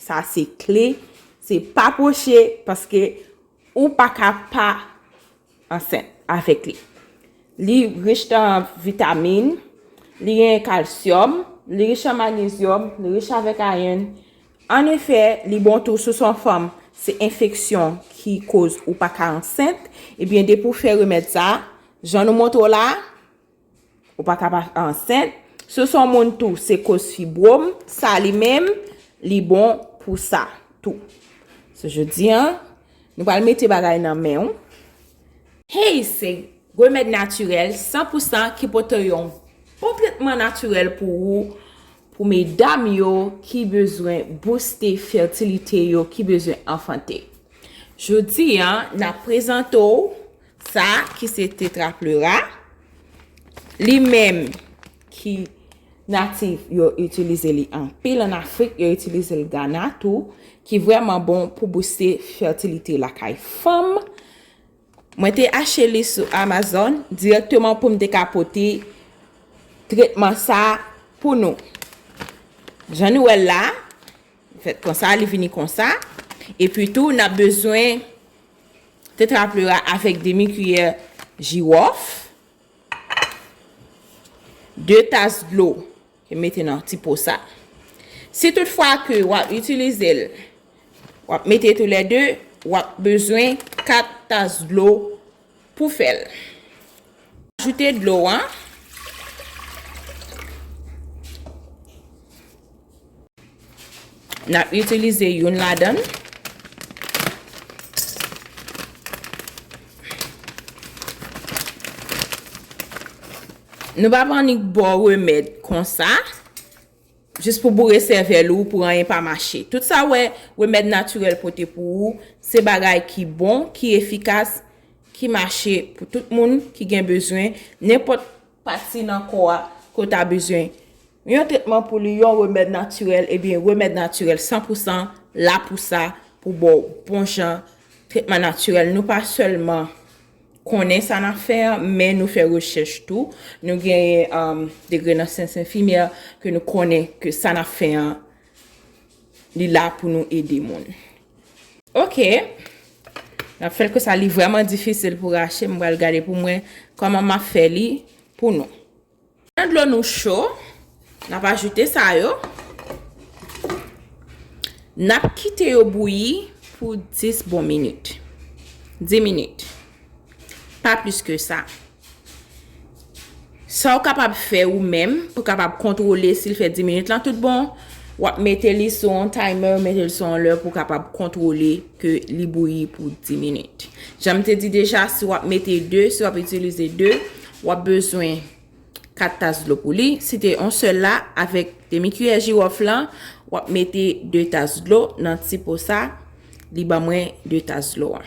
Sa se kle, se pa pwoche paske ou pa ka pa ansent avèk li. Li rich nan vitamin, li gen kalsyòm, li rich an magnezyòm, li rich avèk ayon. An efè, li bon tou sou son fanm se enfeksyon ki koz ou pa ka ansent, ebyen depi ou fè remèd sa, jan nou montre w la, Ou pa ka pa ansent. Si son moun tou se koz fibrom sa li menm li bon pou sa tou. So jodi an nou pral mete bagay nan men ou. Hey se remèd natirèl san pou san ki pote yon bon tretman natirèl pou ou pou medam yo ki bezwen bouste fètilite yo ki bezwen anfante. Jodi an nap prezante w. Sa ki se tetra pleura. Li menm ki natif yo itilize li anpil an Afrik, yo itilize l Gana tou, ki vreman bon pou bouste fertilite lakay fanm. Mwen te ache li sou Amazon direkteman pou m te ka pote tretman sa pou nou. Jan nou wèl la, fèt konsa, li vini konsa. E pi tou, n ap bezwen Tetrapleura avèk demi kiyè jiwòf. 2 tas dlo ke mete nan ti po sa. Si tout fwa ke wap itilize l, wap mete tou lè 2, wap bezwen 4 tas dlo Pou fèl. Ajoute dlo an. N ap itilize youn ladan. Nou pa pran ni bo remèd konsa. Jis pou boure sèvèl ou pou anyen pa mache. Tout sa wè remèd natirèl pote pou ou, se bagay ki bon, ki efikas, ki mache pou tout moun ki gen bezwen nenpòt pati nan kò a ke w ta bezwen yon tretman pou li, yon remèd natirèl, ebyen remèd natirèl san pou san la pou sa, pou ba w bon jan tretman natirèl. Nou pa sèlman. konnen sa n ap fè an, men nou fè rechèch tou, nou genyen degre nan syans enfimyè, ke nou konnen ke sa n ap fè an, li la pou nou ede moun. Ok, n ap fè l konsa, li vrèman difisil pou rache, m pral gade pou mwen kòman m ap fè li pou nou. Lè dlo nou cho, n ap ajoute sa yo. N ap kite yo bouyi pou 10 bon minit. 10 minit. Pa plis ke sa. Sa ou kapab fè ou menm pou kapab kontwole si l fè 10 minit lan tout bon, w ap mete li sou yon timer, mete l sou yon lè pou kapab kontwole ke li bouyi pou 10 minit. Jan m te di deja, si w ap mete 2, si w ap itilize 2. W ap bezwen 4 tas dlo pou li. Si te yon sèl la, avèk demi kiyè jiwòf lan, w ap mete 2 tas dlo nan ti po sa. Li ban mwen 2 tas dlo an.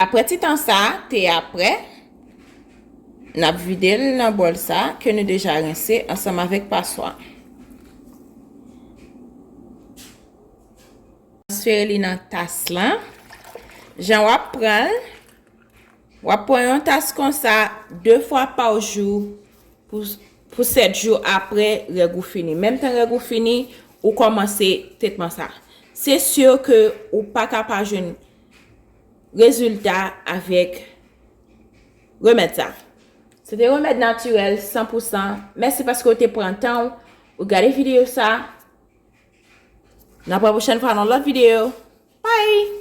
Aprè ti tan sa, te a prè. N ap vide l nan bòl sa ke nou deja rense ansanm avèk paswa. Transfere li nan tas lan. Jan w ap pran l, W ap pran yon tas konsa 2 fwa pa jou pou 7 jou apre règ ou fini. Menm tan règ ou fini, ou kòmanse tretman sa. Se sur ke ou pa ka pa jwenn rezilta avèk remèd sa. Se te remèd natirèl 100 pou 100. Mèsi paske ou te pran tan ou pou gade videyo sa. Nan pwòpwosèn fwa nan lòt videyo. Bye!